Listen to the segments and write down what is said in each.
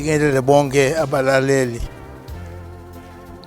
ngibingelele bonke abalaleli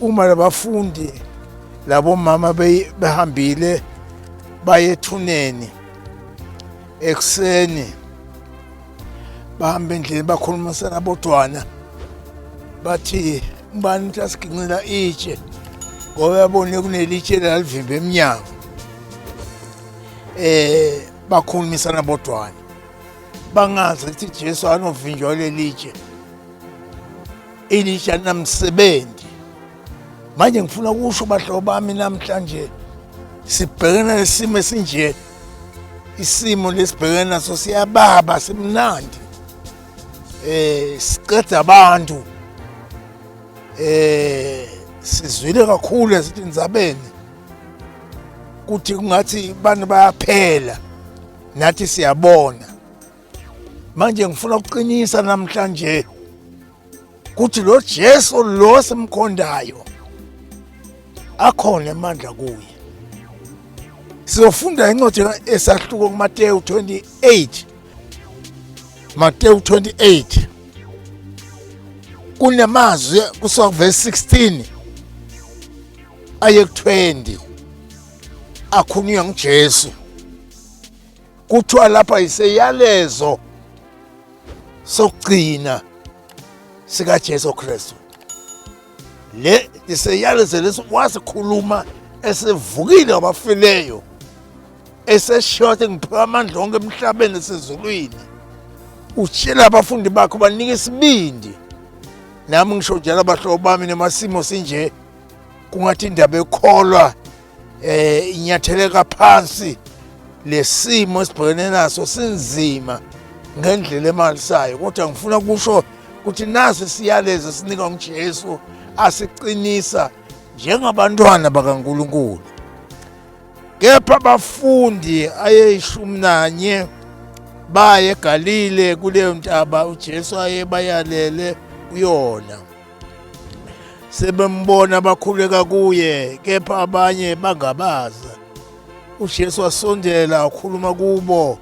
uma labafundi labomama behambile baye ethuneni ekuseni bahamba endlini bakhulumisana bodwana bathi ubani ukuthi asiginqila itshe ngoba yabone kunelitshe lalivimba emnyango eh bakhulumisana bodwana bangazi ukuthi Jesu anovinjwa lelitshe elisha namsebenzi manje ngifuna ukusho bahlobo bami namhlanje sibhekene nesimo esinje isimo lesibhekene naso siyababa simnandi eh siqeda abantu eh sizwile kakhulu ezindzabeni kuthi kungathi abantu bayaphela nathi siyabona manje ngifuna ukuqinisa namhlanje ukuthi lo Jesu lo simkhondayo akhona emandla kuye sizofunda incwadi esahluko kuMateyu 28 Mateyu 28 kunamazwi kusuka kuverse 16 aye ku 20 akhulunywa nguJesu kuthiwa lapha yiseyalezo sokugcina sikaJesu Kristu le iseyalezo leso wasikhuluma esevukile wabafileyo eseshothe ngiphiwa amandla onke emhlabeni esezulwini utshela abafundi bakho banika isibindi nami ngisho njalo abahlobo bami nemasimo sinje kungathi indaba ekholwa eh inyatheleka phansi lesimo esibhekene naso sinzima ngendlela emalisayo kodwa ngifuna ukusho ukuthi naso siyalezo esinika uJesu asiqinisa njengabantwana bakaNkuluNkulu kepha abafundi ayeshumi nanye baye eGalile kuleyo ntaba uJesu ayebayalele kuyona sebembona bakhuleka kuye kepha abanye bangabaza uJesu wasondela wakhuluma kubo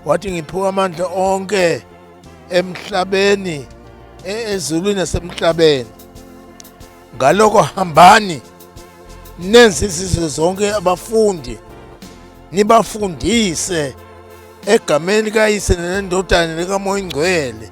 wathi ngiphiwe amandla onke emhlabeni e, ezulwini nasemhlabeni ngaloko hambani nenze izizwe zonke abafundi nibafundise egameni likayise nendodaneni likamoya ingcwele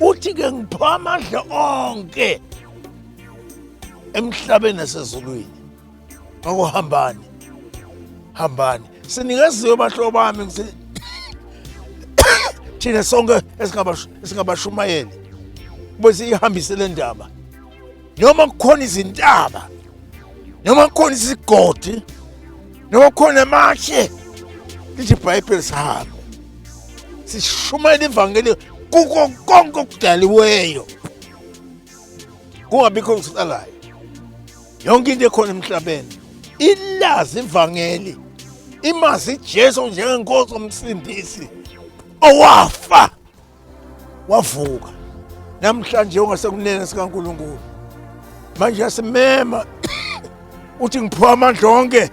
uthi ke ngipha amandla onke emhlabeni nasezulwini ngakho hambani hambani sinikeziwe bahlobo bami ngithi thina sonke esingabashumayeli bese ihambise le ndaba noma kukhona izintaba noma kukhona isigodi noma kukhona amashe lithi ibhayibheli sihambe sishumayela ivangeli kuko konke okudaliweyo kungabikho okusalayo yonke into ekhona emhlabeni ilazi ivangeli imazi ijesu njengenkosi omsindisi owafa wavuka namhlanje ungasekunene sikaNkulunkulu manje yasimema uthi ngiphiwa amandla onke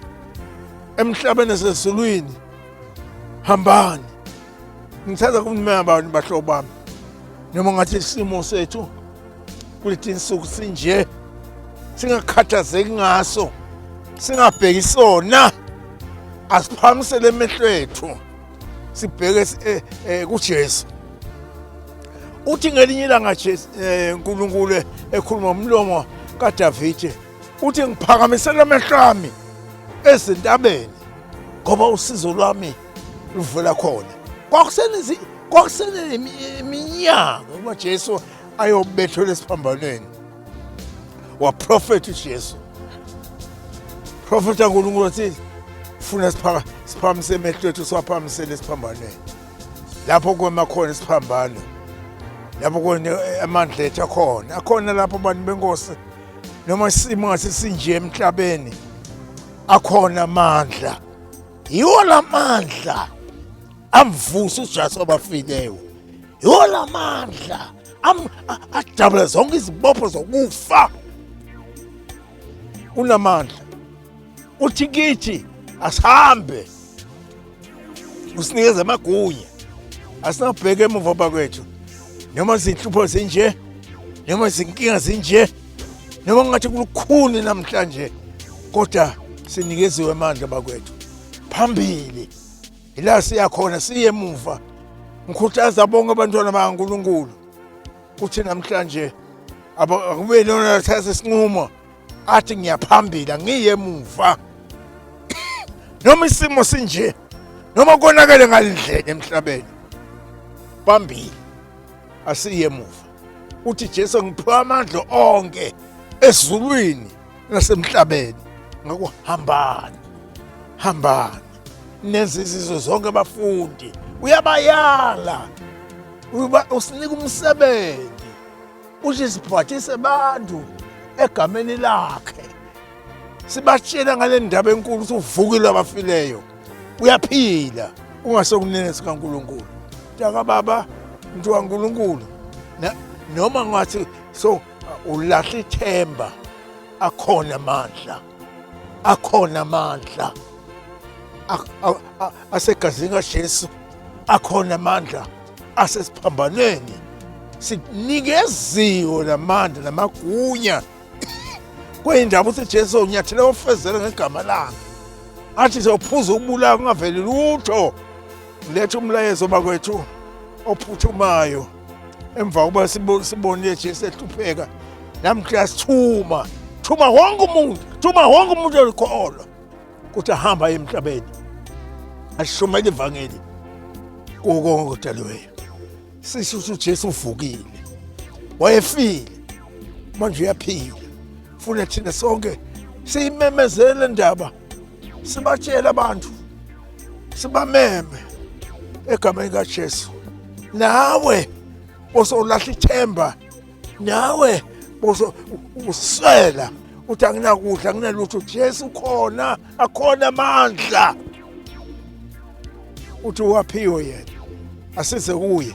emhlabeni esezulwini hambani ngithanda kunimema abantu bahlobo bami noma ngathi isimo sethu kuleti insuku sinje singakhathazeki ngaso singabheki sona asiphamusele emehlwethu sibheke eh, eh, kuJesu uthi ngelinye ilanga Jesu eh, uNkulunkulu ekhuluma umlomo kaDavide uthi ngiphakamisela amehlo ami ezintabeni ngoba usizo lwami luvela khona kwakusenezi kwakuseneminyaka uba Jesu ayobethelwa esiphambanweni waprofetha uJesu profetha uNkulunkulu wathi funa siphaka siphamise emehlo ethu siwaphamisele esiphambanweni lapho kwema khona isiphambano lapho kone eh, amandla ethu akhona akhona lapho abantu benkosi noma isimo ngase sinje emhlabeni akhona amandla yiwo lamandla amvusa uJesu abafileyo Yola mandla ajabule zonke izibopho zokufa unamandla uthi kithi asihambe usinikeze amagunya asinabheka emuva bakwethu noma zinhlupho zinje noma izinkinga zinje noma ngathi kulukhuni namhlanje kodwa sinikeziwe amandla bakwethu phambili Yila siya khona siye emuva. Ngikhuthaza bonke abantwana bakaNkulunkulu ukuthi namhlanje akube lona athatha isinqumo athi ngiyaphambili angiye emuva. Noma isimo sinje noma konakele ngalendlela emhlabeni. Phambili asiye emuva. Uthi Jesu ngiphiwa amandla onke ezulwini nasemhlabeni ngakho hambani hambani nenze izizwe zonke abafundi uyabayala usinika umsebenzi uthi sibhathise abantu egameni lakhe sibatshela ngale ndaba enkulu ukuthi uvukile abafileyo uyaphila ungasekunene sikaNkuluNkulu mntaka baba mntu kaNkuluNkulu noma ngathi so ulahle ithemba akhona amandla akhona amandla asegazini kaJesu akhona amandla asesiphambanweni sinikeziwe namandla namagunya kweyindaba uthi Jesu unyathela ofezela ngegama lakhe athi sophuza ukubulala kungaveli lutho letha umlayezo bakwethu ophuthumayo emva kokuba sibonile nje sehlupheka nami kuyasithuma thuma wonke umuntu thuma wonke umuntu olikholwa ukuthi ahamba aye emhlabeni ashumele ivangeli kuwo konke okudaliweyo sisho ukuthi ujesu uvukile wayefile manje uyaphila funa thina sonke siyimemezele ndaba sibatshele abantu sibameme egameni kaJesu nawe bosowulahla ithemba nawe boso uswela uthi anginakudla anginalutho Jesu khona akhona amandla uthi waphiwe yena asize kuye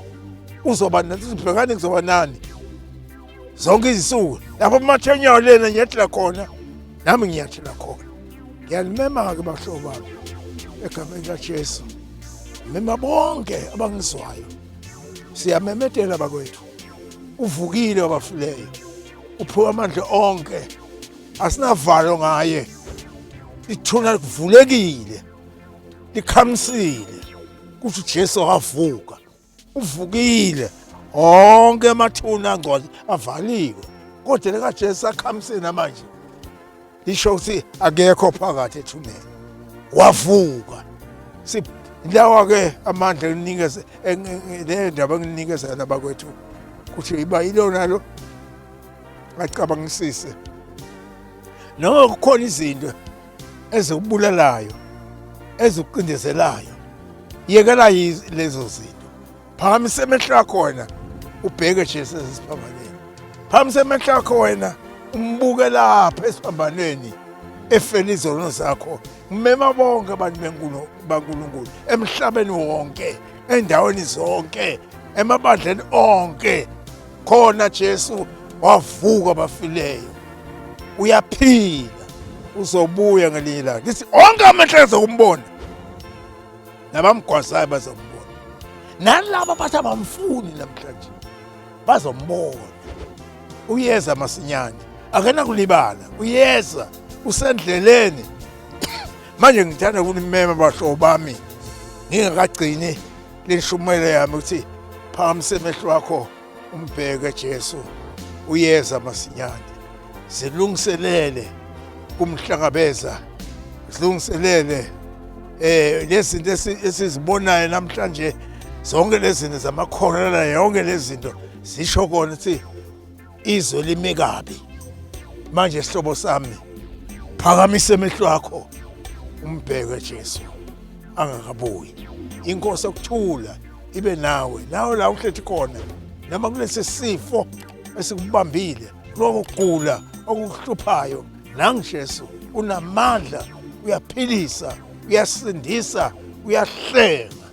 uzoba nani sibhekane kuzoba nani zonke izinsuku lapho umathenyawo lena ngiyathela khona nami ngiyathela khona ngiyalimema-ke bahlobo bami egameni kajesu mema bonke abangizwayo siyamemedela bakwethu uvukile wabafileyo uphiwe amandla onke asinavalo ngaye ithuna livulekile likhamisile kuthi uJesu wavuka uvukile onke amathuna angcwadi avaliwe kodwa lekajesu akhamseni amanje lisho ukuthi akekho phakathi ethuneni wavuka lawa ke amandla elinikeze le ndaba enginikeza yona bakwethu ukuthi iba ilona lo acabangisise noma kukhona izinto ezikubulalayo ezikucindezelayo yekela lezo zinto phakamisa emehlo akho wena ubheke jesu esesiphambaneni phakamisa emehlo akho wena umbuke lapha esiphambaneni efela izono zakho ngimema bonke abantu benkulu bankulunkulu emhlabeni wonke endaweni zonke emabandleni onke khona Jesu wavuka abafileyo uyaphila uzobuya ngelinye ilanga ngithi onke amehlo azokumbona nabamgwazayo bazombona nalaba bathi abamfuni namhlanje bazombona uyeza masinyane akenakulibala uyeza usendleleni manje ngithanda kunimema bahlobo bami ngingakagcini Lishumele yami ukuthi phakamisa emehlo wakho umbheke Jesu uyeza masinyane zilungiselele kumhlangabeza zilungiselele eh lezinto esizibonayo namhlanje zonke lezinto zamakholera yonke lezinto zisho kona ukuthi izwe lime kabi manje sihlobo sami phakamisa emehlo akho umbheke Jesu angakabuyi inkosi okuthula ibe nawe nawe la uhlethi khona noma kulesi sifo esikubambile lokugula okukuhluphayo nangijesu unamandla uyaphilisa uyasindisa uyahlenga